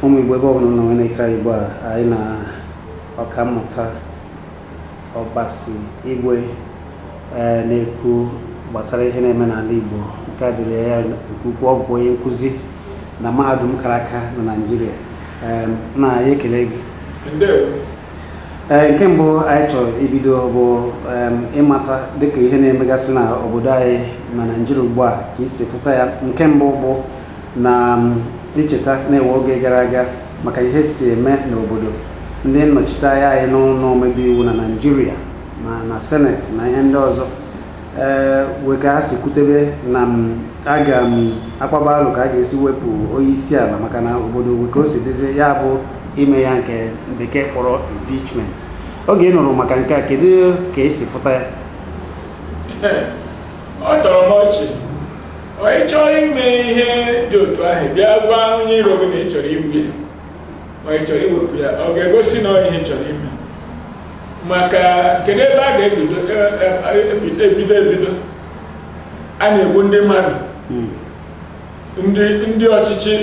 ụmụ igbo ebe ọbụla nọ nwere ekere igbo a anyị na ọkammụta ọbasi igwe ee na-ekwu gbasara ihe na-eme n'ala igbo nke a dịrị ya nke ukwuu ọ bụ onye nkụzi na mahadum kara aka na naijiria ee nna anyị ekele gị Ndewo. ee nke mbụ anyị chọrọ ibido bụ em, ịmata dịka ihe na-emegasị na obodo anyị na naijiria ugbu a ka i si fụta ya nke mbụ bụ na em, icheta na-ewe oge gara aga maka ihe si eme n'obodo ndị nnọchiteanya anyị n'ụlọ omebe iwu na naijiria na na seneti na ihe ndị ọzọ ee wee ka ha si kwutebe na m aga m akpaba alo ka a ga-esi wepụ onye isi ala maka na obodo wee ka o si dịzi ya bụ ime ya nke bekee kpọrọ impeachment oge ị nụrụ maka nke a kedu ka i si fụta ya ọ tọrọ m ọchị ọ ị chọrọ ime ihe dị otu ahụ bịa gwa onye iro gị na ị chọrọ igbu ya ma ị chọrọ iwepụ ya ọ ga-egosi na ọ ihe ị chọrọ ime maka kedu ebe a ga-ebido ebido ebido a na-egbu ndị mmadụ hmm. ndị ọchịchị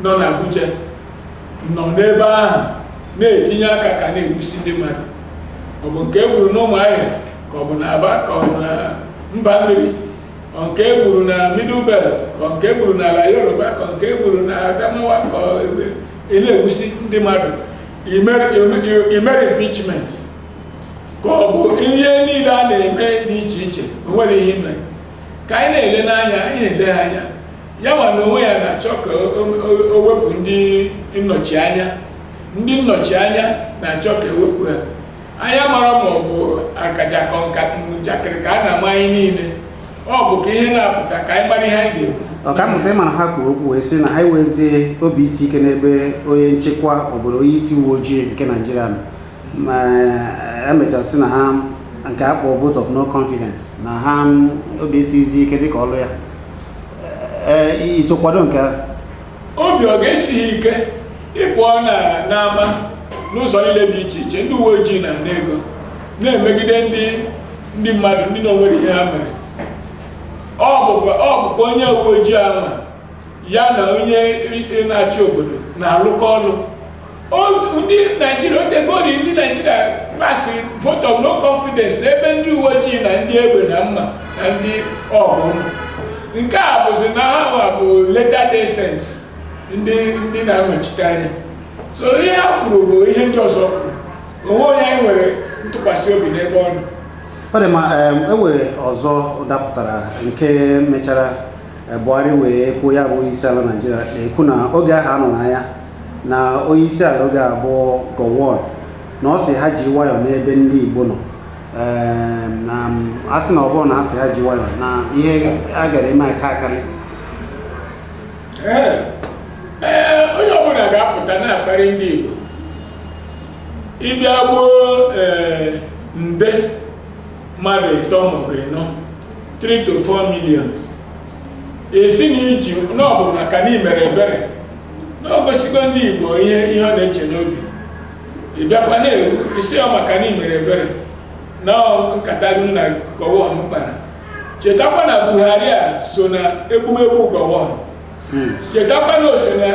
nọ n'Abuja nọ n'ebe ahụ na-etinye aka ka a na-egbusi ndị mmadụ ọ bụ nke e gburu n'ụmụahịa ka ọ bụ na Aba ka ọ bụ na mba mmiri ka nke e gburu na middle belt ka nke e gburu n'ala yoruba ka nke e gburu na adamawa ka a na-egbusi ndị mmadụ e mere impeachment ka ọ bụ ihe niile a na-eme dị iche iche o nwere ihe e mere ka anyị na-ele n'anya anyị na-ele ha anya ya nwa na onwe ya na-achọ ka o wepụ ndị nnọchi anya ndị nnọchi anya na-achọ ka e wepụ ya onye mara ma ọ bụ akaja ka ọ njakịrị ka a na-ama anyị niile ọ bụ ka ihe na-apụta ka anyị mara ihe anyị ga-ekwu ọkammụta ị mara ha kwuru okwu wee sị na ha enwezi obi isi ike n'ebe onye nchekwa obodo onye isi uwe ojii nke naijiria nọ ma e mechaa sị na ha nke a kpọọ vote of no confidence na ha obi esizi ike dịka ọrụ ya ee i so kwado nke a obi ọ ga-esi gị ike ị pụọ na n'ama n'ụzọ niile dị iche iche ndị uwe ojii na-ana ego na-emegide ndị ndị mmadụ ndị na onweghị ihe ha mere ọ bụkwa ọ bụkwa onye uwe ojii ahụ ya na onye i- na-achị obodo na-alụkọ ọlụ ndị naijiria otegori ndị naijiria pasịrị vote of no confidence n'ebe ndị uwe ojii na ndị egbe na mma na ndị ọgụ nke a bụzi na ha nwa bụ leta descent ndị ndị na-anọchite anya so ihe ha kwuru bụ ihe ndị ọzọ kwuru onweghị onye anyị nwere ntụkwasị obi n'ebe ọ nọ ọ dị mma enwere ọzọ dapụtara nke mechara Eh, Buhari wee kwuo ya bụ onyeisiala Naijiria na-ekwu na oge ahụ a nọ n'aya na onyeisiala oge a bụ Gowon na ọ sị ha ji nwayọọ n'ebe ndị Igbo nọ Eh, na mm, a sị na ọ bụrọ na a sị ha ji nwayọọ na ihe a gara eme aka akarị Ee, ee, onye ọbụla ga-apụta na-akparị ndị Igbo ị bịa gbuo ee, nde mmadụ ịtọ maọbụ ịnọ 3 to 4 million ị sị na i ji na ọ bụ maka na i mere ebere na o gosigo ndị igbo ihe ihe ọ na-eche n'obi ị bịakwa na-ekwu sị ọ maka na i mere ebere na nkata gị na gọwon kpara chetakwa na buhari a so na egbumegbu gọwon chetakwa na o so na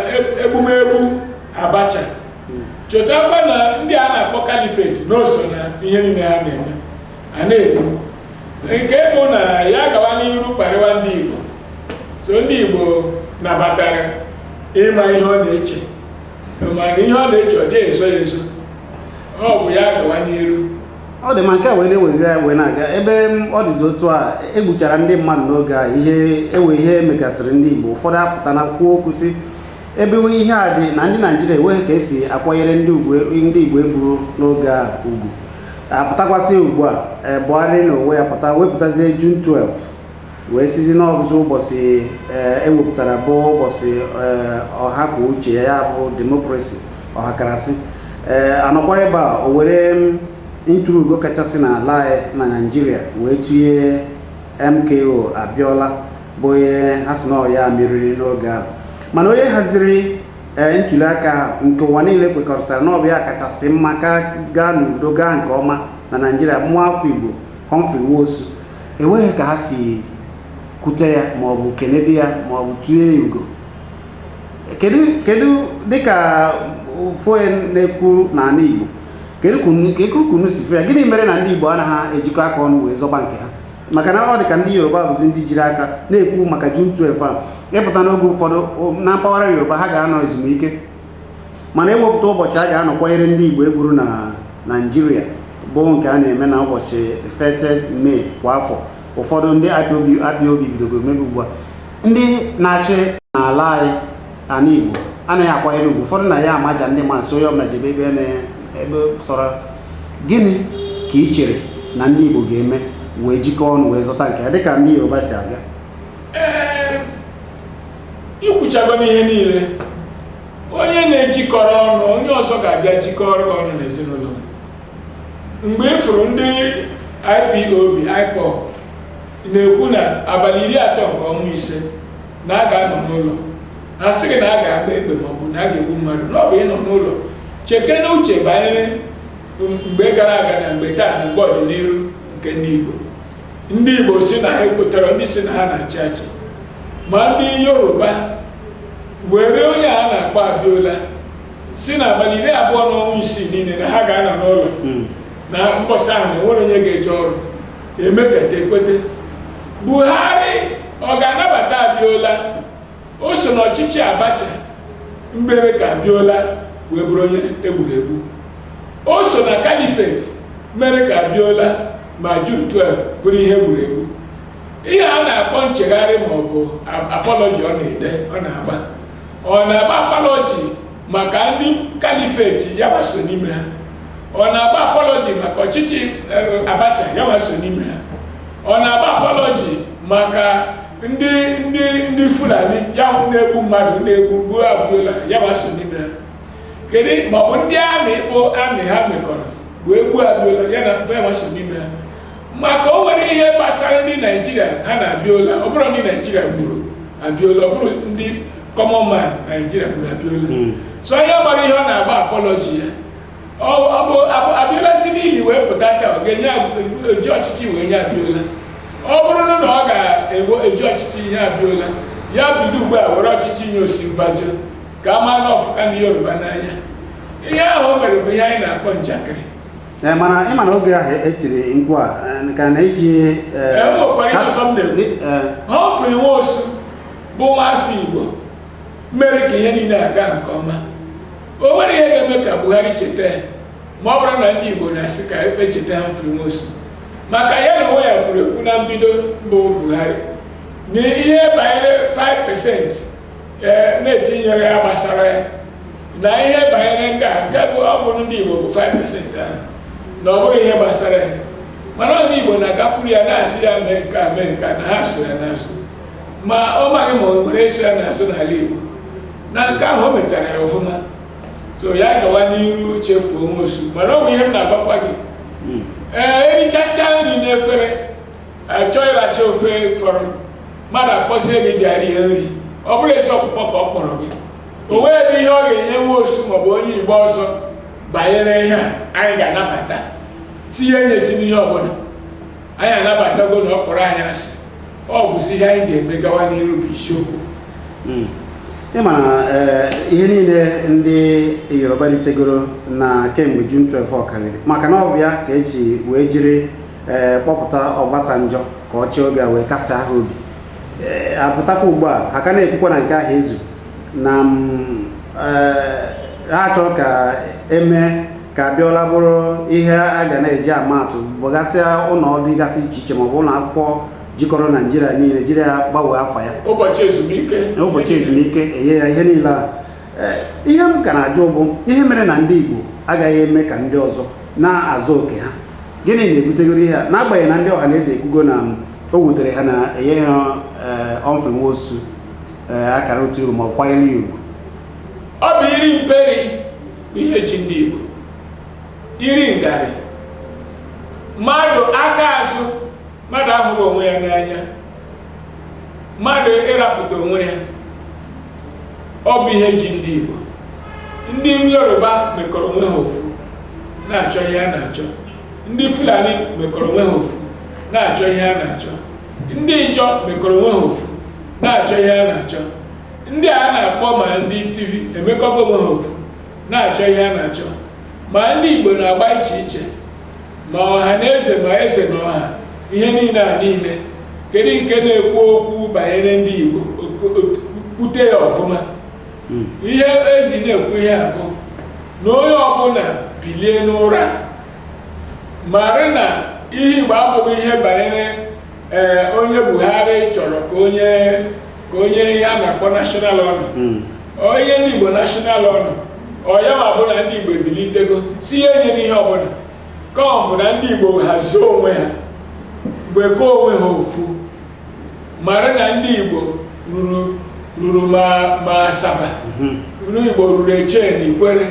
egbumegbu abacha chetakwa na ndị a na-akpọ kalifeti na o so na ihe niile ha na-eme a na-ekwu nke bụ na ya gawa n'iru kparịwa ndị Igbo so ndị Igbo nabatara ịma ihe ọ na-eche mana ihe ọ na-eche ọ dịghị ezo ya ezo ọ bụ ya gawa n'iru ọ dị mma nke a wee na-ewezi ya wee na-aga ebe ọ dịzi otu a egbuchara ndị mmadụ n'oge a ihe ewe ihe megasịrị ndị Igbo ụfọdụ apụta na kwuo okwu sị ebe ihe a dị na ndị naijiria enweghị ka esi akwanyere ndị igbo egburu n'oge a ugwu apụtakwasị ugbu a e, Buhari na onwe ya pụta wepụtazie June 12 wee sizi na ọ bụzi ụbọchị ewepụtara e bụ ụbọchị e, ọha kwuo uche ya ya bụ demokrasi ọhakarasị ee anọkwara ebe a o were ntụrụugo kachasị n'ala na naijiria wee tụnye MKO Abiola bụ onye ha sị na ọ ya meriri n'oge ahụ mana onye haziri ee ntuli aka ahụ nke ụwa niile kwekọrịtara na ọ bụ ya kachasị mma ka gaa n'udo gaa nke ọma na naijiria nwa afọ igbo Humphrey Nwosu enweghị ka ha si kwute ya ma ọ bụ kenede ya ma ọ bụ tụnye ya ugo kedu kedu dịka ụfọdụ na-ekwu n'ala igbo kedu ka unu- ka unu si fụ ya gịnị mere na ndị igbo anaghị ejikọ aka ọnụ wee zọba nke ha maka na ọ dị ka ndị yoruba bụzi ndị jiri aka na-ekwu maka jun 12 a ị pụta n'oge ụfọdụ na mpaghara yoruba ha ga-anọ ezumike mana ewepụta ụbọchị a ga-anọ kwanyere ndị igbo egburu na naijiria bụ nke a na-eme na ụbọchị 30 mee kwa afọ ụfọdụ ndị IPOB bidogo mebe ugbu a ndị na-achị n'ala anyị ana igbo anaghị akwanyere ugwu ụfọdụ na ya amaja ndị mmadụ sị onye ọbụla jebe ebe sọrọ Gịnị ka i chere na ndị Igbo ga-eme wee jikọọ ọnụ wee zọta nke ya dịka ndị Yoruba si abịa? Ee, i kwuchagonụ ihe niile onye na-ejikọrọ ọnụ onye ọzọ ga-abịa jikọrọ gị ọnụ n'ezinụlọ gị. mgbe ị fụrụ ndị IPOB IPOB na-ekwu na abalị iri atọ nke ọnwa ise na a ga-anọ n'ụlọ a sịghị na a ga-agba egbe ma ọ bụ na a ga-egbu mmadụ na ọ bụ ịnọ n'ụlọ chekene uche banyere mgbe gara aga na mgbe taa na mgbe ọdịnihu nke ndị Igbo ndị Igbo sị na ha ekwetarọ ndị sị na ha na-achị achị ma ndị Yoruba were onye a na-akpọ Abiola sị na abalị iri abụọ na ọnwa isii niile na ha ga-anọ n'ụlọ na mbọsị ahụ na enwere onye ga-eje ọrụ emekata ekwete buhari ọ ga-anabata abiola o so n'ọchịchị abacha mere ka abiola wee bụrụ onye egburu egbu o so na kalifet mere ka abiola ma jun 12 bụrụ ihe egburu egbu ihe a na-akpọ nchegharị ma ọ bụ apọlọji ọ na-ede ọ na-agba ọ na-agba apọlọji maka ndị kalifeti ya wa so n'ime ha ọ na-agba apọlọji maka ọchịchị eh, abacha ya wa so n'ime ha ọ na-agba apọlọji maka ndị ndị ndị fulani ya na-egbu mmadụ na-egbu gbuo abiola ya wa so n'ime ha kedu maọbụ ndị amị bụ amị ha mekọrọ wee gbuo abiola ya na ya wa so n'ime ha maka o nwerọ ihe gbasara ndị naijiria ha na abiola ọ bụrọ ndị naijiria gburu abiola ọ bụrọ ndị common man naijiria gburu abiola hmm. so o nweburọ ihe ọ na-agba apọlọji ya ọ bụ abiola si n'ili wee pụta taa ọ ga-enye eji ọchịchị wee nye abiola ọ bụrụ na ọ ga-eji ọchịchị nye abiola ya bido ugbu a were ọchịchị nye osinbajo ka a maa na ọ fụka ndị yoruba n'anya ihe ahụ o mere bụ ihe anyị na-akpọ njakịrị Ee, mana ị ma na oge ahụ etiri mkpu a eh, ka na-eji eh, ni- eh, Humphrey Nwosu bụ nwafọ Igbo mere ka ihe niile aga nke ọma o nwere ihe ga-eme ka Buhari cheta ya ma ọ bụrụ na ndị Igbo na-asị ka e cheta Humphrey Nwosu maka ya na onwe ya kwuru ekwu na mbido bụ Buhari na ihe banyere 5% ee na-etinyere ya gbasara ya na ihe banyere ndị a nke bụ ọ bụ ndị Igbo bụ 5% ahụ na ọ bụrọ ihe gbasara ya mana ndị Igbo na-agakwuru ya na-asị ya mee nke a mee nke a na ha so ya n'azụ ma ọ maghị ma o nwere eso ya n'azụ n'ala Igbo na nke ahụ o metara ya ọfụma so ya gawa n'iru chefuo Nwosu mana ọ bụ ihe m na-agwakwa gị ee erichacha nri n'efere achọ ịracha ofe fọrọ mmadụ akpọzie gị bịa rie nri ọ bụrọ ezi ọkpụkpọ ka ọ kpọrọ gị o nweghị ihe ọ ga-enye Nwosu maọbụ onye igbo ọzọ banyere ihe a anyị ga-anabata sị ya enyezina ihe ọbụla anyị anabatago na ọ kpọrọ anyị asị ọ bụzi ihe anyị ga-eme gawa n'iru bụ isiokwu hmm. ị ma na eh, ihe niile ndị yoruba ritegoro na kemgbe June 12 ọ karịrị maka na ọ bụ ya ka eji wee jiri ee eh, kpọpụta Obasanjo ka ọ chịa oge a wee kasie ha obi ee eh, apụtakwa ugbu a ha ka na-ekwukwa na nke ahụ ezu na mm, eh, ha chọrọ ka emee ka Abiola bụrụ ihe a ga na-eji ama atụ bụgasịa ụlọ ọrụ dịgasị iche iche maọbụ ụlọ akwụkwọ jikọrọ Naịjirịa niile jiri ya gbanwee afa ya ụbọchị ezumike enye ya ihe niile a ihe m ka na-ajụ bụ ihe mere na ndị Igbo agaghị eme ka ndị ọzọ na-azọ oke ha gịnị na-ebutegoro ihe a n'agbanyeghị na ndị ọha na eze ekwugo na o wutere ha na enyeghị Humphrey Nwosu akara otu iru ma ọ kwanyere ya ugwu ọ bụ iri mperi ihe ji ndị Igbo iri ngarị mmadụ aka azụ mmadụ ahụrọ onwe ya n'anya mmadụ ịrapụta onwe ya ọ bụ ihe ji ndị Igbo ndị Yoruba mekọrọ onwe ha ofu na-achọ ihe a na-achọ ndị Fulani mekọrọ onwe ha ofu na-achọ ihe a na-achọ ndị Ịjọ mekọrọ onwe ha ofu na-achọ ihe a na-achọ ndị a na-akpọ ma ndị Tiv emekọba onwe ha ofu na-achọ ihe a na-achọ ma ndị Igbo na-agba iche iche ma ọha na eze ma eze na ọha ihe niile a niile kedu nke na-ekwu okwu banyere ndị Igbo kwute ya ọfụma hmm. ihe eji na-ekwu ihe a bụ na onye ọbụla bilie n'ụra mara na ihe Igbo abụghị ihe banyere ee onye buhari chọrọ ka o nye ihe a na-akpọ national honour hmm. o nye ndị igbo national honour ọ ya-abụ na ndị igbo ebilitego sị ya enyena ihe ọbụla ka ọ bụ na ndị igbo hazie onwe ha mekọọ onwe ha ofu mara na ndị igbo ruru ma Asaba hmm. ndị igbo ruru eche na ikwere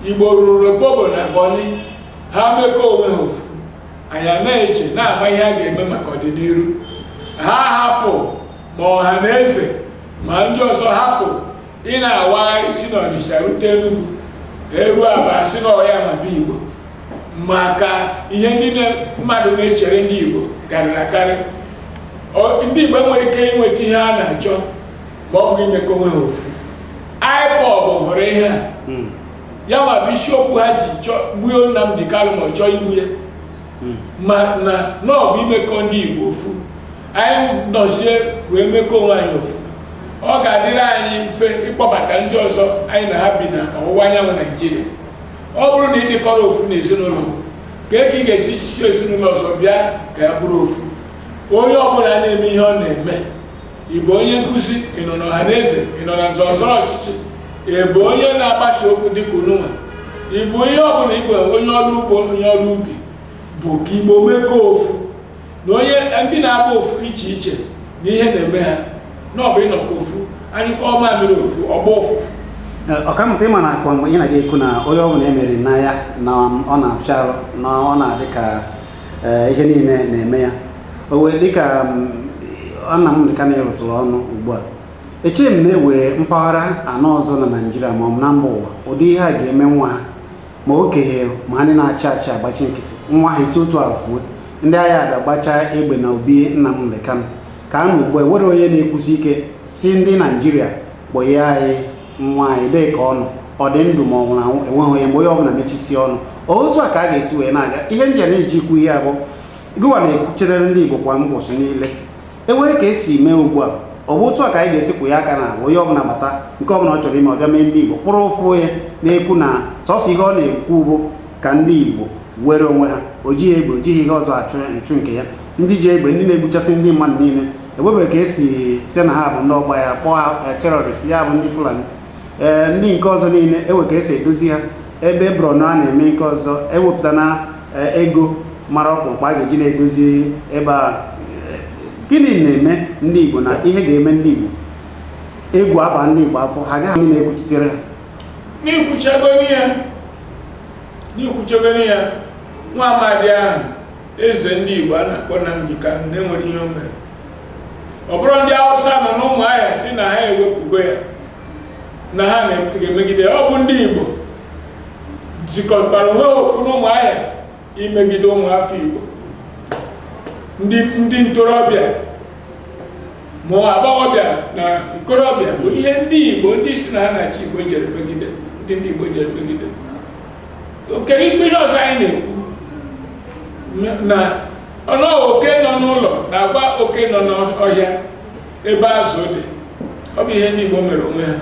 igbo ruru Opobo na bọni ha mekọọ onwe ha ofu anyị na-eche na-ama ihe a ga-eme maka ọdịnihu ha hapụ ma ọha na eze ma ndị ọzọ hapụ ị na-awa isi na ọnịsha rute enugwu eru aba asị na ọ yanwa bụ igbo maka ihe ndị mmadụ na-echere ndị igbo karịrị akarị ndị igbo enweghị ike inweta ihe a na-achọ ma ọ bụghị imekọ onwe ha ofu IPOB hụrụ ihe a hmm. yanwa bụ isiokwu ha ji gbuo Nnamdi Kanu ma ọ chọọ igbu ya hmm. ma na na ọ bụ imekọ ndị Igbo ofu anyị nọzie wee mekọ onwe anyị ofu ọ ga-adịrị anyị mfe ịkpọbata ndị ọzọ anyị na ha bi na ọwụwa anyanwụ Naijiria ọ bụrụ na ị dịkọrọ ofu na ezinụlọ kee ka ị ga-esi sị ezinụlọ ọzọ bịa ka anyị bụrụ ofu onye ọbụla na-eme ihe ọ na-eme ị bụ onye nkụzi ị nọ n'ọha na eze ị nọ na nzọrọzọrọ ọchịchị ị bụ onye na-agbasa okwu dịka ununwa ị bụ ihe ọbụla ị bụ onye ọrụ ugbo onye ọrụ ubi bụ ka igbo mekọọ ofu na onye ndị na-agba ofu iche iche na ihe na-eme ha na ọ bụ ịnọkọ ofu anyụkọọ mamịrị ofu ọ gbaa ụfụfụ ọkammụta ị ma na akwa mgbe ị na-aga ekwu na onye ọbụla e meriri n'agha na ọ na-afịa arụ na ọ na-adị ka ee ihe niile na-eme ya o wee dịka Nnamdi Kanu ị rụtụrụ ọnụ ugbu a echeghị m na e nwere mpaghara anọ ọzọ na naijiria ma ọ bụ na mba ụwa ụdị ihe a ga-eme nwa ha ma okenye ma ndị na-achị achị agbachi nkịtị nwa ha esi otu a fuo ndị agha abịa gbachaa egbe na obi Nnamdi Kanu ka a na ugbu a enwere onye na-ekwusi ike sị ndị naijiria kpọnye anyị nwa anyị ebee ka ọ nọ ọ dị ndụ ma ọ nwụrụ anwụ enweghị onye mgbe onye ọbụla mechisi ọnụ otu a ka a ga-esi wee na-aga ihe ndị a na-eji ekwu ihe a bụ gịwa na-ekwuchere ndị Igbo kwa ụbọchị niile enwere ka esi mee ugbu a ọ bụ otu a ka anyị ga-esi kwụ ya aka na onye ọbụla bata nke ọbụla ọ chọrọ ime ọ bịa mee ndị Igbo kpụrụ ofu onye na-ekwu na sọsọ ihe ọ na-ekwu bụ ka ndị Igbo nwere onwe ha o jighị egbe o jighị ihe ọzọ achụ nke ya ndị ji egbe ndị na-egbuchasị ndị mmadụ niile enwebeghị ka esi sị na ha bụ ndị ọgba ya kpọọ eh, terrorist ya bụ ndị fulani ee eh, ndị nke ọzọ niile enwe ka esi edozi ha ebe Borno a na-eme nke ọzọ ewepụta na eh, ego mara ọkpụrụkpụ a ga-eji na-edozi ebe a gịnị na-eme ndị igbo na ihe ga-eme ndị igbo egwu aba ndị igbo afọ ha gaghị na-ekwuchitere ha n'ikwuchegoro ya n'ikwuchegoro ya nwa amadi ahụ Eze ndị Igbo a na-akpọ Nnamdi Kanu na e nwere ihe o mere ọ bụrọ ndị Hausa nọ n'ụmụahịa sị na ha ewepụgo ya na ha na-emegide ya ọ bụ ndị Igbo jikọtara onwe ha ofu n'ụmụahịa imegide ụmụafọ Igbo ndị ndị ntorobịa ma agbọghọbịa na nkorobịa bụ ihe ndị Igbo ndị sị na ha na-achị Igbo jere megide ndị ndị Igbo jere megide kedu ikpe ihe ọzọ anyị na-ekwu na ọnụ oke nọ n'ụlọ na-agwa oke nọ n'ọhịa ebe azụ dị ọ bụ ihe ndị Igbo mere onwe ha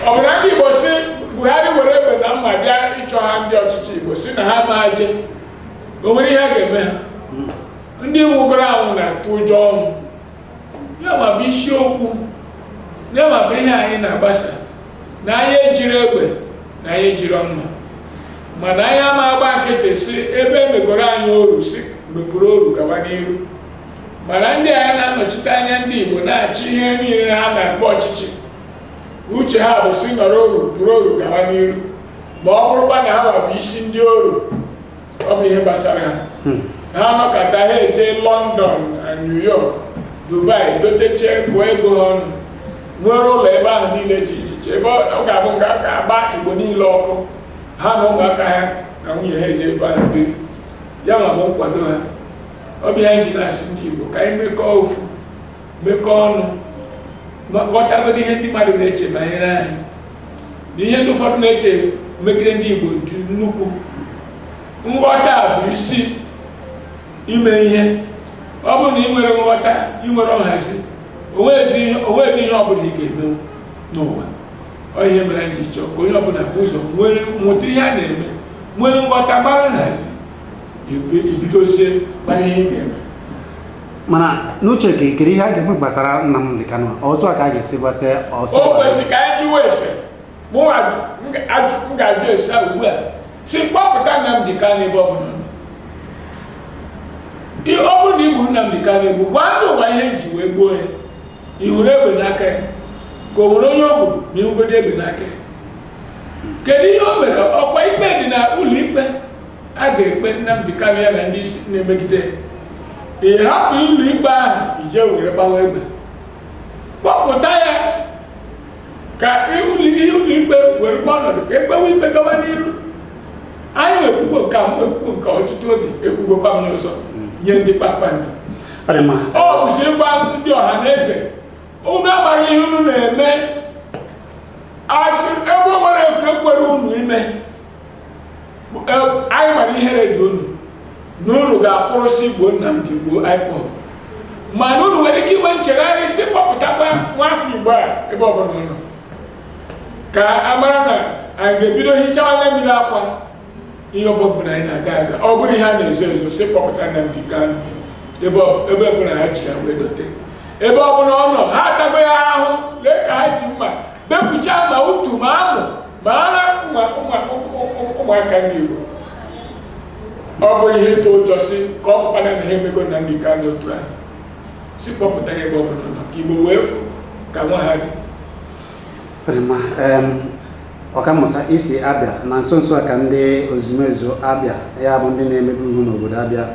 ọ bụrụ ndị Igbo sị Buhari were egbe na mma bịa ịchọ ha ndị ọchịchị Igbo sị na ha ma je o nwere ihe a ga-eme ha ndị nwụgoro anwụ na-atụ ụjọ ọnwụ ya ma bụ isiokwu ya ma bụ ihe anyị na-agbasa na anyị ejiri egbe na anyị ejiri mma mana anyị ama agba nkịtị sị ebe emegoro anyị oru sị mepụrụ oru gawa n'iru mana ndị anyị na-anọchite anya ndị Igbo na-achị ihe niile ha na-akpọ ọchịchị uche ha bụ sị nọrọ oru bụrụ oru gawa n'iru ma ọ bụrụkwa na ha bụ isi ndị oru ọ bụ ihe gbasara ha ha nọkọta ha eje London na New York Dubai doteche gụọ ego ha ọnụ nwere ụlọ ebe ahụ niile dị iche iche ebe ọ ga-abụ nga a ga-agba Igbo niile ọkụ ha na ụmụaka ha na nwunye ha eje ebe ahụ biri ya ma bụ nkwado ha ọ bụ ihe anyị ji na-asị ndị Igbo ka anyị mekọọ ofu mekọọ ọnụ ghọtagodo ihe ndị mmadụ na-eche banyere anyị na ihe ndị ụfọdụ na-eche megide ndị Igbo dị nnukwu nghọta bụ isi ime ihe ọ bụrụ na ị nwere nghọta ị nwere nhazi onweghị ihe ọbụla ị ga-eme n'ụwa ọ ihe mere anyị ji chọọ ka onye ọbụla bu ụzọ nwere mụta ihe a na-eme nwere nghọta mara nhazi i bidozie mara ihe ị ga-eme mana n'uche gị kedu ihe a ga-eme gbasara Nnamdi Kanu otu a ka a ga-esi gbata ọsọ o kwesịrị ka anyị jụwa ese mụ m ga-ajụ ese ugbu a sị kpọpụta Nnamdi Kanu ebe ọ bụla ọ nọ ọ bụrụ na i gbu Nnamdi Kanu egbu gwa ndị ụwa ihe i ji wee gbuo ya ị hụrụ egbe n'aka ya ka o nwere onye o gburu ma ị hụgodo egbe n'aka ya kedu ihe o mere ọkwa ikpe dị na ụlọ ikpe a ga-ekpe Nnamdi Kanu ya na ndị isi na-emegide ị hapụ ụlọ ikpe ahụ i je were gbawa egbe kpọpụta ya ka ụlọikpe were gba ọnọdụ ka e kpewe ikpe gawa n'iru anyị ekwugo nke a ekwugo nke ọtụtụ oge ekwugokwa m n'ụzọ nye ndị kpakpando ọ bụzi ịgwa ndị ọha na eze unu amara ihe unu na-eme asị ebe o nwere nke kwere unu ime anyị mara ihere dị unu na unu ga-akpụrụsị gbuo Nnamdi gbuo IPOB mana unu nwere ike inwe nchegharị sị kpọpụtakwa nwa afọ Igbo a ebe ọbụla ọ nọ ka a mara na anyị ga-ebido hichawa anya mmiri akwa ihe ọbụla anyị na-aga aga ọ bụrụ ihe a na-ezo ezo sị kpọpụta Nnamdi Kanu ebe ọbụla ha ji ya wee dote ebe ọbụla ọ nọ ha atago ya ahụ lee ka ha ji mma bepụcha ma utu ma amụ ma ara ụmụaka ndị Igbo ọ bụ ihe ịtụ ụjọ sị ka ọ bụkwana na ha emego Nnamdi Kanu otu ahụ sị kpọpụta ya ebe ọ bụla ọ nọ ka Igbo wee fụ ka nwa ha dị ọkammụta isi abịa na nso nso a ka ndị ozumezu Abịa ya bụ ndị na-emebe iwu n'obodo Abịa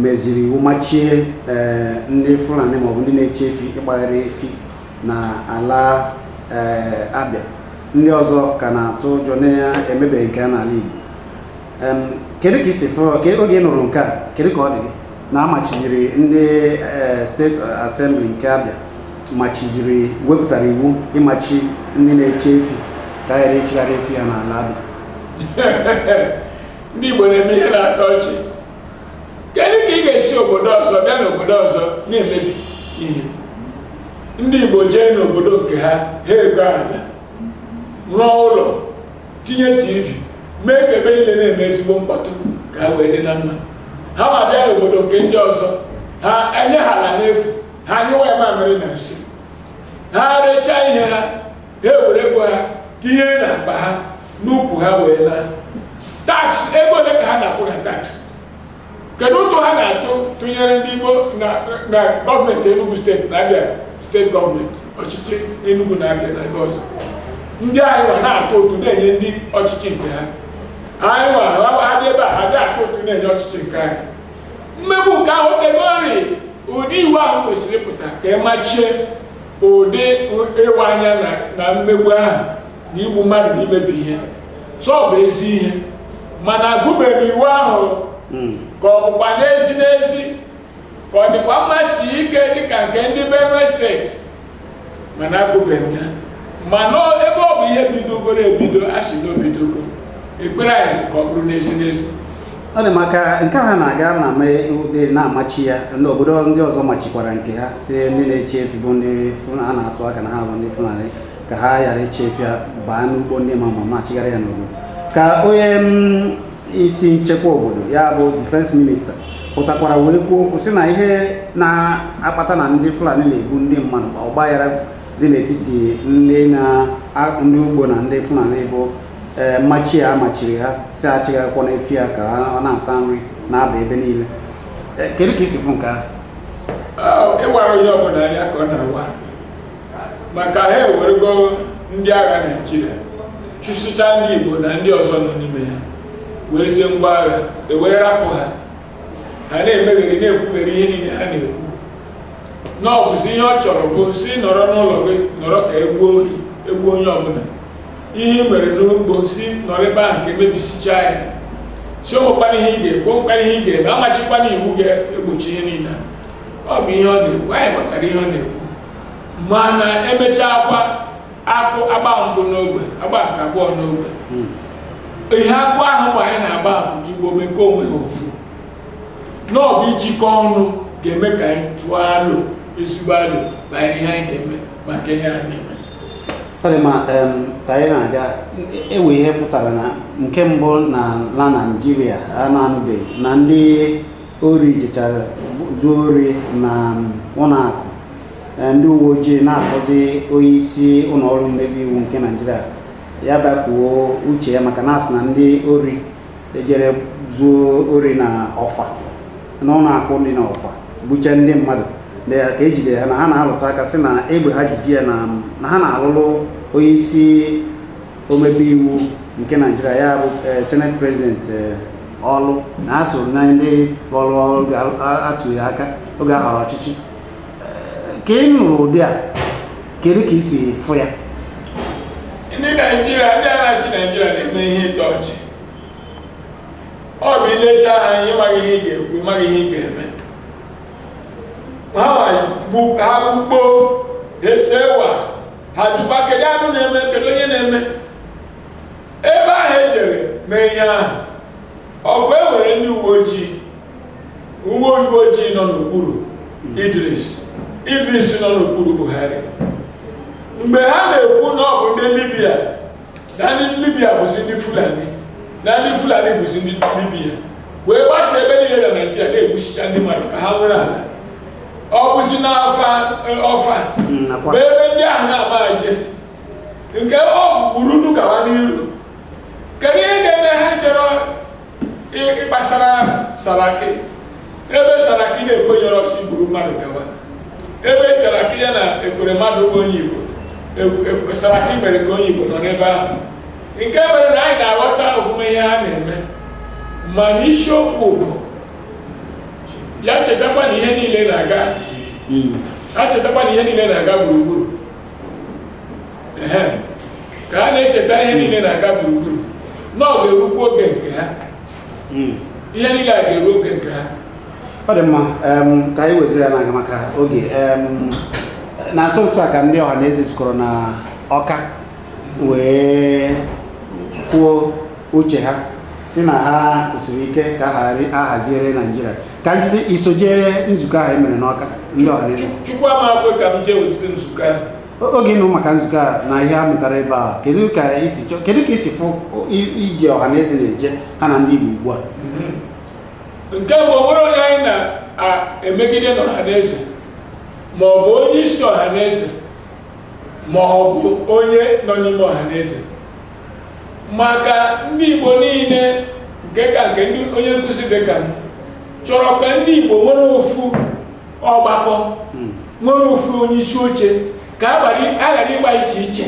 meziri iwu machie eh, ndị Fulani maọbụ ndị na-eche efi ịkpagharị efi na ala ee Abịa ndị ọzọ ka na-atụ ụjọ na-emebeghị nke a n'ala Igbo Em, kedu ka i si fụọ ka oge ị nụrụ nke a kedu ka ọ dị gị na a machiziri ndị ee, State Assembly nke Abịa machiziri wepụtara iwu ịmachi ndị na-eche efi ka a ghara ịchịgharị efi ya n'ala Abịa ndị Igbo na-eme ihe na-atọ ọchị kedu ka ị ga-esi obodo ọzọ bịa n'obodo ọzọ na-emebi ihe ndị Igbo jee n'obodo nke ha ha egoo ala rụọ ụlọ tinye tv mee ka ebe niile na-eme ezigbo mkpọtụ ka ha wee dị na mma ha nwa bịa n'obodo nke ndị ọzọ ha enye ha ala n'efu ha anyụwa ya mamịrị na nsị ha erechaa ihe ha ha ewere ego ha tinye na akpa ha n'ukwu ha wee laa tax ego ole ka ha na-akwụ na tax kedu ụtụ ha na-atụ tụnyere ndị Igbo na na gọọmenti Enugu steeti na Abia steeti gọọmenti ọchịchị Enugu na Abia na ebe ọzọ ndị anyị nwa na-atụ ụtụ na-enye ndị ọchịchị nke ha anyị nwa ha- ha dị ebe a ha adị atụ ụtụ na-enye ọchịchị nke anyị mmegbu nke ahụ o tegori ụdị iwu ahụ kwesịrị ịpụta ka a machie ụdị ịwa anya na mmegbu ahụ na igbu mmadụ na imebi ihe so ọ bụ ezi ihe mana agụbeghị m iwu ahụ hmm. ka ọ bụkwa n'ezi n'ezi ka ọ dịkwa mma sie ike dịka nke ndị Benue steeti mana agụbeghị m ya mana ebe ọ bụ ihe bidogoro ebido a sị na o bidogo ekpere anyị ka ọ bụrụ n'ezi n'ezi ọ dị maka nke ha na-aga na mee ụdị na-amachi ya n'obodo ndị ọzọ machikwara nke ha sị ndị na-eche efi bụ ndị a na-atụ aka na ha bụ ndị Fulani ka ha ghara ịchị efi ya baa n'ugbo ndị mmadụ ma na-achịgharị ya n'obodo ka onye mm, isi nchekwa obodo ya bụ Defence Minister pụtakwara wee kwuo okwu sị na ihe na-akpata na ndị Fulani na-egbu ndị mmadụ ma ọgbaghara dị n'etiti ndị ugbo na ndị Fulani bụ ee eh, mmachi a machiri ha si ha achịgakwana efi ya ka ọ na-ata nri na-aba ebe niile eh, kedu ka isi fụ nke ahụ oh, ịwara onye ọbụla anya ka ọ na-awa maka ha ewerego ndị agha naijiria chụsịcha ndị igbo na ndị ọzọ nọ n'ime ya werezie ngwa agha ewere rapụ ha ha na-emegheri na-ekwugheri ihe niile ha na-ekwu na ọ bụzi ihe ọ chọrọ bụ si nọrọ n'ụlọ gị nọrọ ka egbuo onye ọbụla ihe ị mere n'ugbo si nọrọ ebe ahụ ka emebisichaa ya si onwekwana ihe ị ga-ekwu onwekwana ihe ị ga-eme amachikwana iwu ga-egbochi ihe niile ọ bụ ihe ọ na-ekwu anyị ghọtara ihe ọ na-ekwu mana emechakwaa akụ agba mbụ n'ogwe agba nke abụọ n'ogwe hmm. ihe akụ ahụ mgbe anyị na-agba bụ igbo mekọ onwe ha ofu na ọ bụ ijikọ ọnụ ga-eme ka anyị tụọ alo ezigbo alo banyere ihe anyị ga-eme maka ihe anyị na-eme ma ka anyị na-aga enwe ihe pụtara na nke mbụ n'ala naijiria a na-anụbeghị na ndị ori jechara zuo ori na ụlọ akụ Eh, ndị uwe ojii na-akpọzi onye isi ụlọ ọrụ mmebe iwu nke naijiria ya bịa kwuo uche ya maka na asị na ndị ori ejere zuo ori na ọfa n'ụlọ akụ dị na ọfa gbuchaa ndị mmadụ ka ejide ha na ha na-alụta aka sị na egbe ha ji jee ya na na ha na-alụlụ onye isi omebe iwu nke naijiria ya bụ eh, senate president eh, ọlụ na ha soro na ndị lụrụ ọlụ ka atụ ya aka oge a họrọ ọchịchị ka ị nụrụ ụdị a kedu ka i si fụ ya ndị naijiria ndị na-achị naijiria na-eme ihe ịtọ ọchị ọ bụ ilecha ha ịmaghị ihe ị ga-ekwu ịmaghị ihe ị ga-eme ha gbukpo esewa ha jụkwa kedu anụ na-eme kedu onye na-eme ebe ahụ ejere mee ihe ahụ ọkwa e nwere ndị uwe ojii uwe uwe ojii nọ n'okpuru Idris Idris nọ n'okpuru Buhari mgbe ha na-ekwu na ọ bụ ndị Libya na ndị Libya bụzi ndị Fulani na ndị Fulani bụzi ndị Libya wee gbasa ebe niile na Naịjirịa na-egbusicha ndị mmadụ ka ha were ala ọ bụzi n'ọfa ọfa bụ ebe ndị ahụ na-amaghị jesi nke ọ bụ kpuru nu gawa n'iru kedu ihe na-eme ha chọrọ ịkpasara saraki ebe saraki na-ekwenyerọ sị gburu mmadụ gawa ebe saraki ya na ekweremadu bụ onye igbo e, e, saraki mere ka onye igbo nọ n'ebe ahụ nke mere na anyị na-aghọta ofụma ihe ha na-eme mana isiokwu bụ ya chetakwa na ihe niile na-aga hmm. ha chetakwa na ihe niile na-aga gburugburu ka a na-echeta ihe niile na-aga gburugburu na ọ ga-erukwu oge nke ha hmm. ihe niile a ga-eru oge nke ha ọ dị mma ka anyị weziri ya na-aga maka oge na nso nso a ka ndị ọha na eze zukọrọ na ọka wee kwuo uche ha sị na ha kwụsịrị ike ka a haziere naijiria ka m jide i so jee nzukọ ahụ e mere n'ọka ndị ọhaneze chukwu ama ekwe ka m jee ụdịrị nzukọ ahụ O- oge ị nụ maka nzukọ a na ihe a mụtara ebe a kedu ka i si chọ kedu ka i si fụ i- ije ọhaneze na-eje ha na ndị igbo ugbu a nke mbụ o nwerọ onye anyị na-emegide n'ọhaneze ma ọ bụ onye isi ọhaneze ma ọ bụ onye nọ n'ime ọhaneze maka ndị Igbo niile nke ka nke na onye nkụzi dị ka m chọrọ ka ndị Igbo nwere ofu ọgbakọ hmm. nwere ofu onye isi oche ka a ghara ịgba iche iche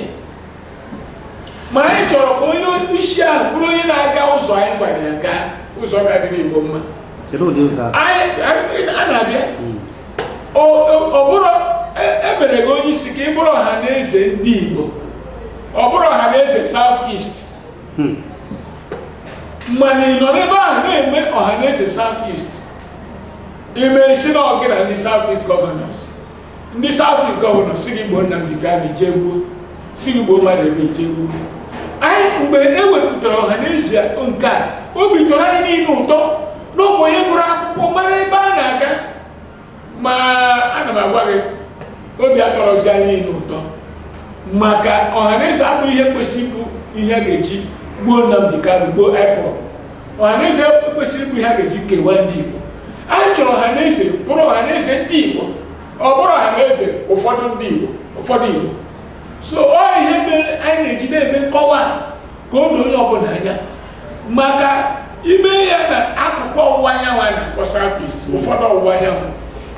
ma anyị chọrọ ka onye isi ahụ bụrụ onye na-aga ụzọ anyị gwara ya gaa ụzọ ga-adịrị Igbo mma a na-abịa hmm. ọ bụrụ e mere gị onye isi ka ị bụrụ ọha na eze ndị Igbo ọ bụrọ ọha na eze South East hmm. mana ị nọ n'ebe ahụ na-eme ọha na eze South East i mee sị na ọ gị na ndị South East gọvanọs ndị South East gọvanọs sị gị gbuo Nnamdi Kanu jee gbuo sị gị gbuo mmadụ ebe jee gbuo anyị mgbe e wepụtara ọha na eze nke a obi tọrọ anyị niile ụtọ na ọ bụ onye gụrụ akwụkwọ mara ebe a na-aga ma ana m agwa gị obi atọrọzi anyị niile ụtọ maka ọhaneze abụrọ ihe kwesịrị ịbụ ihe a ga-eji gbuo Nnamdi Kanu gbuo IPOB ọhaneze ekwesịrọ ịbụ ihe a ga-eji kewaa ndị Igbo anyị chọrọ ọhaneze bụrụ ọhaneze ndị Igbo ọ bụrọ ọhaneze ụfọdụ ndị Igbo ụfọdụ Igbo so ọ ihe mere anyị na-eji na-eme nkọwa ka o doo onye ọbụla anya maka i mee ya na akụkụ ọwụwa anyanwụ a na-akpọ southeast ụfọdụ ọwụwa anyanwụ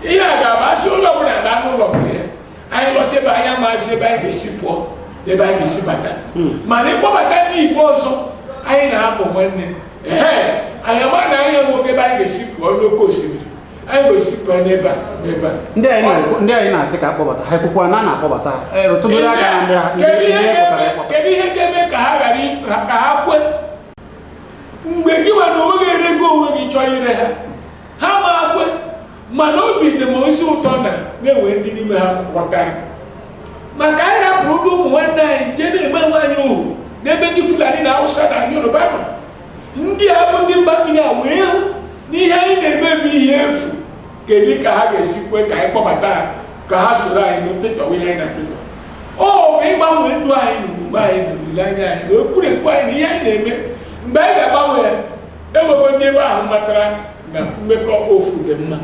ihe a ga-abụ a sị onye ọbụla naa n'ụlọ nke ya anyị lọta be anyị amazi ebe anyị ga-esi pụọ na ebe anyị ga-esi bata hmm. mana ịkpọbata ndị igbo ọzọ anyị na ha bụ nwanne ee anyị ama na anyị enwego ebe anyị ga-esi pụọ n'oke osimiri ndị anyị na-asị ka a kpọbata ha ekwukwa na a na-akpọbata ha rụtụgoro aka na ndị ha kedu ihe ga-eme ka ha ghara ka ha kwe mgbe gị nwa na onwe gị erego onwe gị chọọ ire ha ha ama ekwe mana obi dị m ezi ụtọ na a na-enwe ndị n'ime ha ghọtara maka anyị rapụrụ ụmụ nwanne anyị jee na-eme onwe anyị ohu n'ebe ndị Fulani na Hausa na Yoruba nọ ndị a bụ ndị mba mmiri a wee hụ na ihe anyị na-eme bụ ihe efu kedu ka ha ga-esi kwe ka anyị kpọbata ha ka ha soro anyị pịtọwa ihe anyị na-apịtọ ọ bụ ịgbanwe ndụ anyị na omume anyị na olileanya anyị na ekwurekwu anyị na ihe anyị na-eme mgbe anyị ga-agbanwe ya enwego ndị ebe ahụ matara na mmekọ ofu dị mma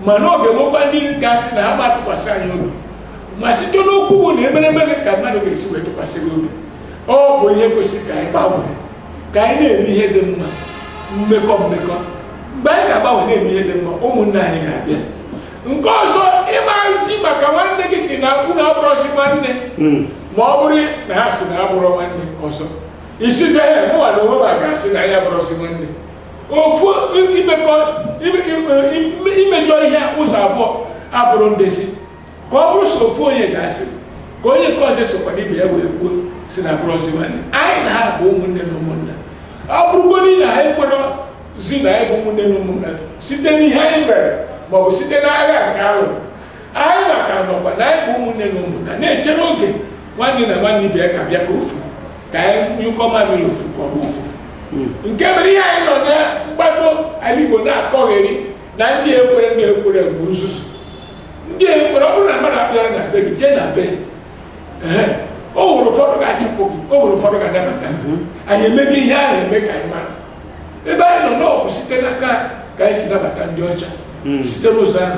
mana ọ ga-enwekwa ndị ga-asị na ha ama atụkwasị anyị obi ma site n'okwu bụ na emeremere ka mmadụ ga-esi wee tụkwasị gị obi ọ bụ ihe kwesịrị ka anyị gbanwere ka anyị na-eme ihe dị mma mmekọ mmekọ mgbe anyị ga-agbanwe na-eme ihe dị mma ụmụnne anyị ga-abịa nke ọzọ ị ma eji maka nwanne gị si na unu abụrọzi nwanne ma ọ bụrụ na ha si na abụrọ nwanne ọzọ ị sịzie ha mụwa n'onwe m aga-asị na anyị abụrọzi nwanne ofu imekọ imejọ ihe ụzọ abụọ abụrọ ndezi ka ọ bụrụ so ofu onye ga-asị ka onye nke ọzọ sokwana ibe ya wee kwuo si na abụrọzi nwanne anyị na ha bụ ụmụnne na ụmụnna ọ bụrụgodi na ha ekwerọzi na anyị bụ ụmụnne na ụmụnna site n'ihe anyị mere maọbụ site n'agha nke alụ Anyị nwa ka nọkwa na anyị bụ ụmụnne na ụmụnna na-echere oge nwanne na nwanne ibe ya ka bịa ka ofu ka anyị nyụkọ mamịrị ofu ka ọ bụ ofu nke mere ihe anyị nọ na mgbado ala Igbo na-akọgheri na ndị ekwerọ ndị ekwerọ bụ nzuzu ndị ekwerọ ọ bụrụ na mmadụ abịarọ na be gị jee na be ehe, o nwere ụfọdụ ga-achụpụ gị o nwere ụfọdụ ga-anabata gị. anyị emeghị ihe ahụ eme ka anyị mara ebe anyị nọ na ọ bụ site n'aka ka anyị si nabata ndị ọcha site n'ụzọ ahụ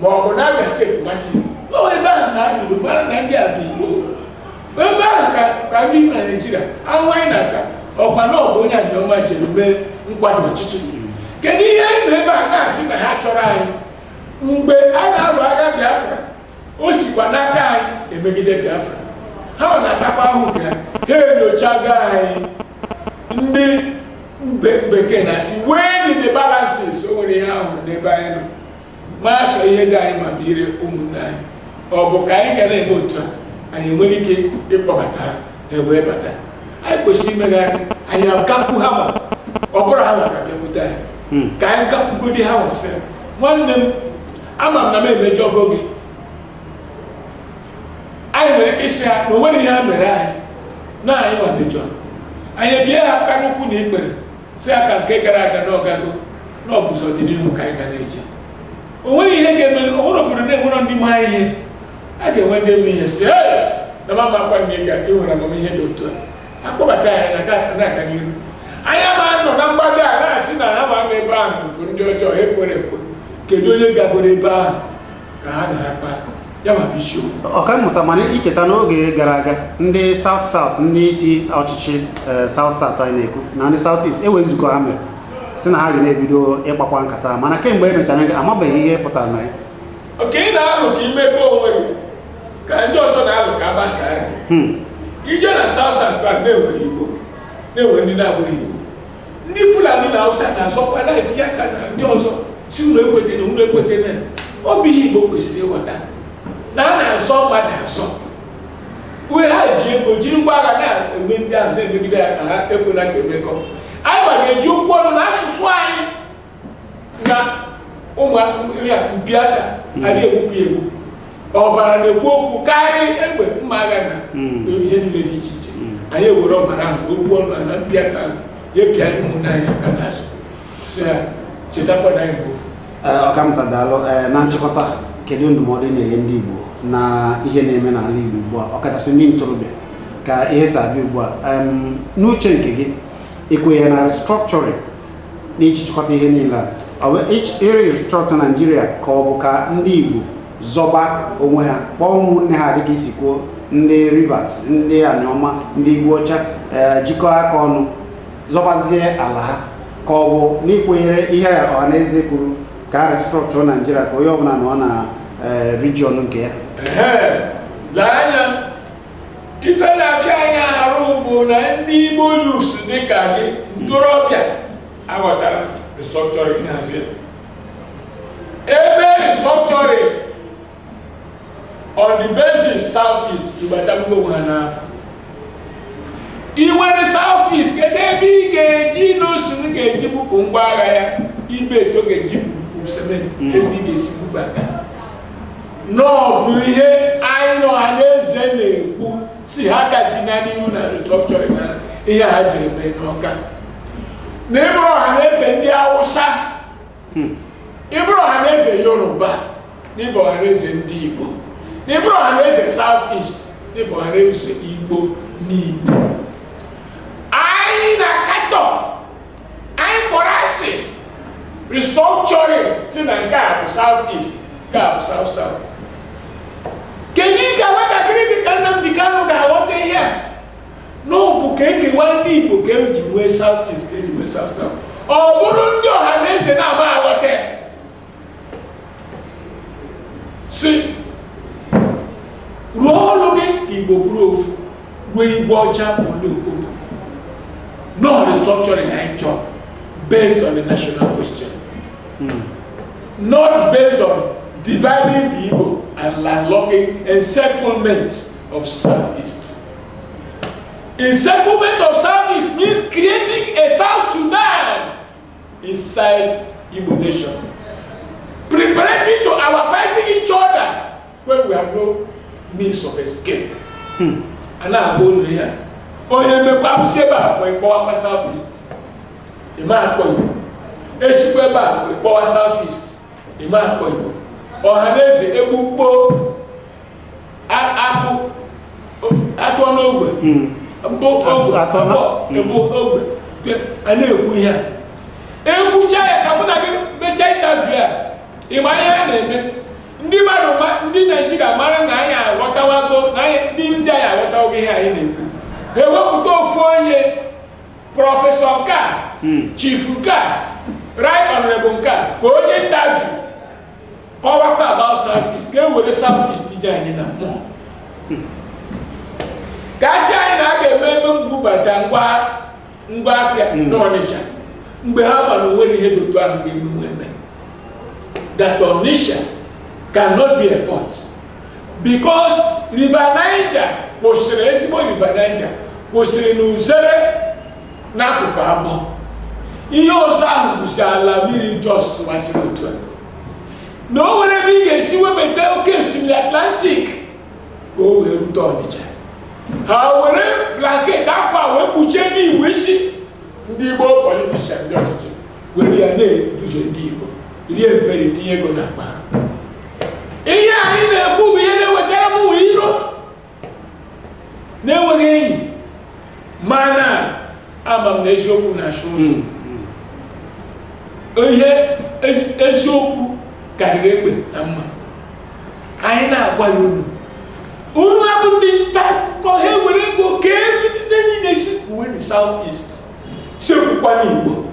ma ọ bụ n'Abia steeti maka Igbo ebe ahụ ka anyị buru mara na ndị a bụ Igbo ebe ahụ ka ka ndị na Naịjirịa ahụ anyị na-aka ọkwa na ọ bụ onye Anioma jere mee nkwada ọchịchị kedu ihe anyị nọ ebe a na-asị na ha achọrọ anyị mgbe a na-alụ agha Biafra o sikwa n'aka anyị emegide Biafra ha ọ na-atakwa ahụ nke ha ha enyochago anyị ndị mbe- bekee na-asị weigh the balances o nwere ihe a hụrụ n'ebe anyị nọ ma sọ ihe dị anyị mma bụ ire ụmụnne anyị ọ bụ ka anyị ga na-eme otu a anyị enwere ike ịkpọbata ha wee bata anyị kwesịrị imerịrị anyị agakwu ha ma ọ bụrụ ha maka bịakwute anyị hmm. ka anyị gakwugodi ha wee sị nwanne m ama m na m emejọgo gị anyị nwere ike ịsị ha na o nwere ihe ha mere anyị na anyị nwa mejọ anyị ebie ha aka n'ụkwụ na ikpere sị ha ka nke gara aga na ọ gago na ọ bụzi ọdịnihu ka anyị ga na-eche o nweghị ihe ga-eme o nwerọ obodo na-enwerọ ndị ma ihe a ga-enwe ndị eme ihe si "Ee, na m amakwa na ị ga-enwere amamihe dị otu a akpọbata ya na ga- na-aga n'ihu anyị ama nọ na mgbada a na-asị na ha nwa nọ ebe ahụ bụ ndị ọjọọ ha ekwerọ ekwe kedu onye gagoro ebe ahụ ka ha na-akpa ya maka isiokwu ọkammụta mana icheta n'oge gara aga ndị south south ndị isi ọchịchị eh, south south anyị na-ekwu na ndị south east enwe nzukọ ha mere sị na ha ga na-ebido ịkpakwa nkata mana kemgbe e mechara nke amabeghị ihe pụtara na ya oke ị na-alụ ka i mekọọ onwe gị ka ndị ọzọ na-alụ ka agbasaa gị Hmm. i je na south south na e nwere igbo na e nwee ndị na-abụrọ igbo ndị fulani na hausa na-azọkwa na-etinye aka na ndị ọzọ sị unu ekwetena unu ekwetena ọ bụ ihe igbo kwesịrị ịghọta na a na-azọ mmadụ azọ ebe ha ji ego jiri ngwa agha na-eme ndị ahụ na-emegide ya ka ha ekwela ka emekọ anyịnwa ga-eji okwu ọnụ na asụsụ anyị na ụmụ ya mpi aka adị egbupụ ya egbupụ ọbara na-ekwu okwu karịa egbe mma agha na ihe niile dị iche iche anyị ewere ọbara ahụ okwu ọnụ na mpi aka ahụ ya pịa anyị ụmụnne anyị aka n'azụ sị ya chetakwa na anyị bụ ofu Ee, ọkammụta daalụ Ee, na nchịkọta kedu ndụmọdụ ị na-enye ndị igbo na ihe na-eme n'ala igbo ugbu a ọkachasị ndị ntorobịa ka ihe si abịa ugbu a Em, n'uche nke gị ị kwenyere na restructuring n'iji chịkọta ihe niile a irestructure naijiria ka ọ bụ ka ndị igbo zọba onwe ha kpọọ ụmụnne ha dịka i si kwuo ndị rivers ndị aniọma ndị igbo ọcha eh, jikọọ aka ọnụ zọbazie ala ha ka ọ bụ na ị kwenyere ihe ọhanaeze kwuru ka a restructure naijiria ka onye ọbụla nọọ na eh, region nke ya ife na-afịa anyị arụ bụ na ndị Igbo youths dịka ndị ntorobịa aghọtarọ restructuring ị na-asị e mee restructuring on the basis south east igbatagbuo onwe ha n'afọ i were south east kedu ebe ị ga-eji Innoson ga-eji bupụ ngwa agha ya Ibeto ga-eji bupụ cement ebe ị ga-esi bubata na ọ bụ ihe anyị na ọhanaeze na-ekwu sị ha agazina n'ihu na restructuring a ihe ha jere mee n'ọka na ị bụrọ ọhanaeze ndị awụsa hmm. ị bụrọ ọhanaeze yoruba na ị bụ ọhanaeze ndị igbo na ị bụrọ ọhanaeze south east na ị bụ ọhanaeze igbo n'igbo anyị kpọrọ asị restructuring sị na nke a bụ south east nke a bụ south south kedu ka nwatakịrị dị ka Nnamdi Kanu ga-aghọta ihe a na ọ bụ ka e kewaa ndị Igbo ka eji nwee south east ka eji nwee south south ọ bụrụ ndị ọhanaeze na-ama aghọta si rụọ ọrụ gị ka igbo bụrụ ofu ruo igwe ọcha ole obodo no restructuring anyị chọrọ based on the national question not based on dividing the igbo and landlocking encirclement of southeast encirclement of southeast means creating a south sudan inside Igbo nation. Preparatory to our fighting each other when we have no means of escape. Hmm. A na-agwa unu ihe. Onye mmekwa abụsi ebe a ka ị kpọwa kwa South East. Ị ma akpọ Igbo. E sikwa ebe a ka ị kpọwa South East. Ị ma akpọ Igbo. Ọhanaeze egbukpo akpụ atọ n'ogwe bụ ogwe atọ bụ ogwe a na-ekwu ihe a ekwucha ya ka mụ na gị mechaa intaviu a ị mara ihe a na-eme ndị mmadụ ndị naijiria mara na anyị aghọtawago na ndị ndị anyị aghọtawago ihe anyị na-ekwu ha ewepụta ofu onye prọfesọ nke a chifu nke a right honorable nke a ka o nye intaviu kọwakwa about South East ka e were South East tinye anyị na mmụọ ka a sị anyị na a ga-eme ebe mbubata ngwa ngwa afịa Mm. n'ọnịcha mgbe ha ma na o nwerọ ihe dị otu ahụ ga-emenwu eme that Onitsha cannot be a port because River Niger kwụsịrị ezigbo River Niger kwụsịrị n'Uzere n'akụkụ abọ ihe ọzọ ahụ bụzi ala mmiri just gbasịrị otu a na o nwerọ ebe ị ga-esi webata oke osimiri atlantik ka o wee rute ọnịcha ha were blanket akwa wee kpuchie ndị igbo isi ndị igbo politishan ndị ọchịchị were ya na-eduhie ndị igbo rie mperi tinye ego na akpa ha ihe anyị na-ekwu bụ ihe na-ewetara mụwa iro na enweghị enyi mana ama m na eziokwu na-achụ ụzọ hmm, hmm. ihe eziokwu karịrị egbe na mma anyị na-agwa ya unu unuwa bụ ndị nta akụkọ ha ewere ego kewe ndị niile sị kwuwenụ South East sị ekwukwana Igbo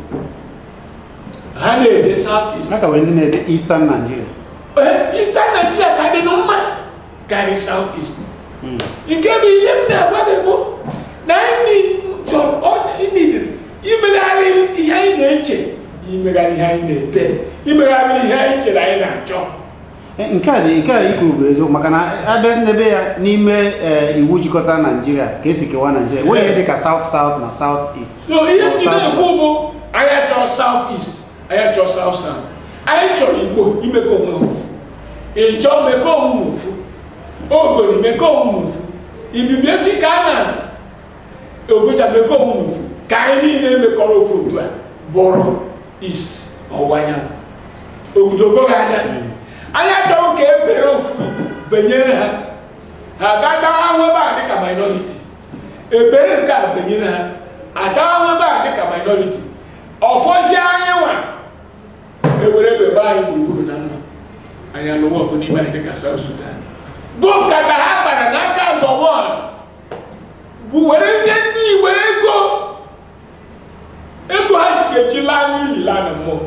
ha na-ede south east. A ka nwee ndị na-ede eastern Nigeria. Eastern Nigeria ka dịnụ mma. karị South East hmm. nke bụ ihe m na-agwa gị bụ na anyị chọrọ imebiri imegharị ihe anyị na-eche imegharị ihe anyị na-ede imegharị ihe anyị chere anyị na-achọ eh, nke a dị nke a i kwu bụ eziokwu maka na a bịa n'ebe ya n'ime eh, iwu jikọta naijiria ka e si kewa naijiria enweghị ihe dị ka south south na south east so ihe m ji na-ekwu bụ anyị achọrọ south east anyị achọ South South anyị chọrọ Igbo imekọ onwe ha ofu Ịjọ mekọ onwe na ofu Ogoni mekọ onwe na ofu Ibibio Efik Annang Ogoja mekọ onwe na ofu ka anyị niile mekọrọ ofu otu a bụrụ East ọwụwa anyanwụ ogudogo ha anya anyị achọghị ka e bere ofu benyere ha ha ga-ata ahụ ebe a dịka minority e bere nke a benyere ha ata ahụ ebe a dịka minority ọ fọzie anyị nwa ewere egbe gbaa anyị gburugburu na mma anyị alụwa ọgụ n'ime anyị dịka South Sudan bụ nkata ha kpara n'aka Gowon bụ were nye ndị were ego ego ha ji eji laa n'ili laa na mmụọ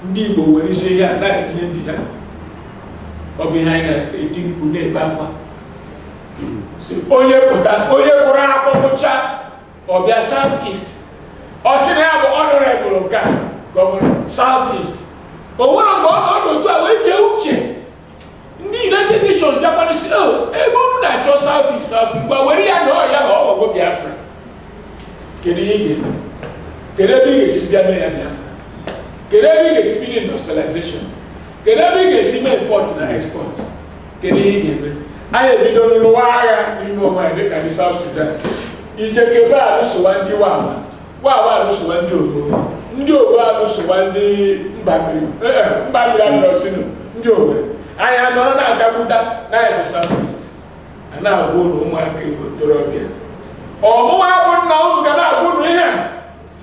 ndị Igbo were isi ihe a na-etinye ndị ha ọ bụ ihe anyị na-eti mkpu na-ebe akwa onye pụta onye kwụrụ akwụkwụcha ọ bịa South East ọ sị na ya bụ honourable nke a gọvanọ South East o nwere mgbe ọ nọdụ otu a wee chee uche ndị United Nations bịakwanụ sị o ebe unu na-achọ South East ngwa were ya na ọ ya na ọ ghọgwo Biafra kedu ihe ị ga-eme kedu ebe ị ga-esi bịa mee ya Biafra kedu ebe ị ga-esi bido industrialization kedu ebe ị ga-esi mee import na export kedu ihe ị ga-eme anyị ebido lụwa agha n'ime onwe anyị dịka ndị South Sudan ijekebe alụsowa ndị wawa wawa alụsowa ndị ogbo ndị ogbo alụsowa ndị mba mmiri eh, eh, mba mmiri alụsinu ndị ogbe anyị anọrọ na-agagbuta na anyị bụ South East a na-agwa unu ụmụaka Igbo ntorobịa ọ mụwa bụ nna unu ga na-agwa unu ihe a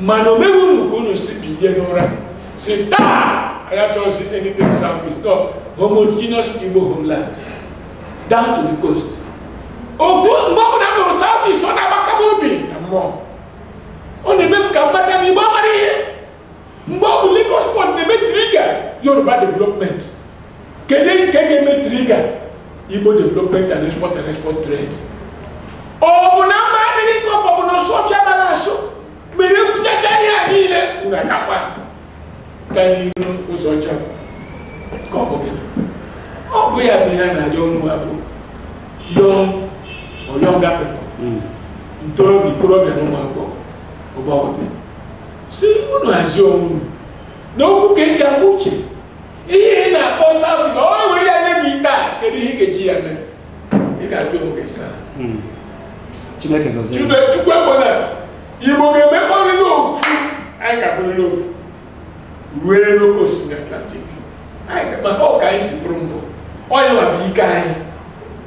mana o mewe unu ka unu si bilie n'ụra si taa anyị achọghịzi anything south east ọ homogeneous igbo homeland down to the coast otu mgbe ọbụla m nụrụ south east ọ na-agbaka m obi na mmụọ ọ na-eme m ka m mata na igbo amarọ ihe mgbe ọ bụ Lagos port na-eme trigger yoruba development kedu nke ga-eme trigger igbo development and export and export trade ọ bụ na mma adịghị nkọ ka ọ bụ na ọsụ ọfịa amarọ asụ mere e kwuchacha ihe a niile unu agakwa ka n'ihu ụzọ ọcha ka ọ bụ gịnị ọ bụ ya bụ ihe a na-arịọ unu bụ young or younger people ntorobịa ikorobịa na ụmụ agbọghọ agbọghọbịa sị unu hazie onwe unu na okwu ka e ji agba uche ihe ị na-akpọ south na ọ were ya nye gị kịtaa kedu ihe ị ga-eji ya mee ị ga-ajụ onwe gị zaa hmm. chineke gọzie chube chukwu ekwena igbo ga-emekọrịrị ofu anyị ga-abụrịrị ofu rue n'oke osimiri Atlantic maka ọ ka anyị si bụrụ mbụ ọ ya nwa bụ ike anyị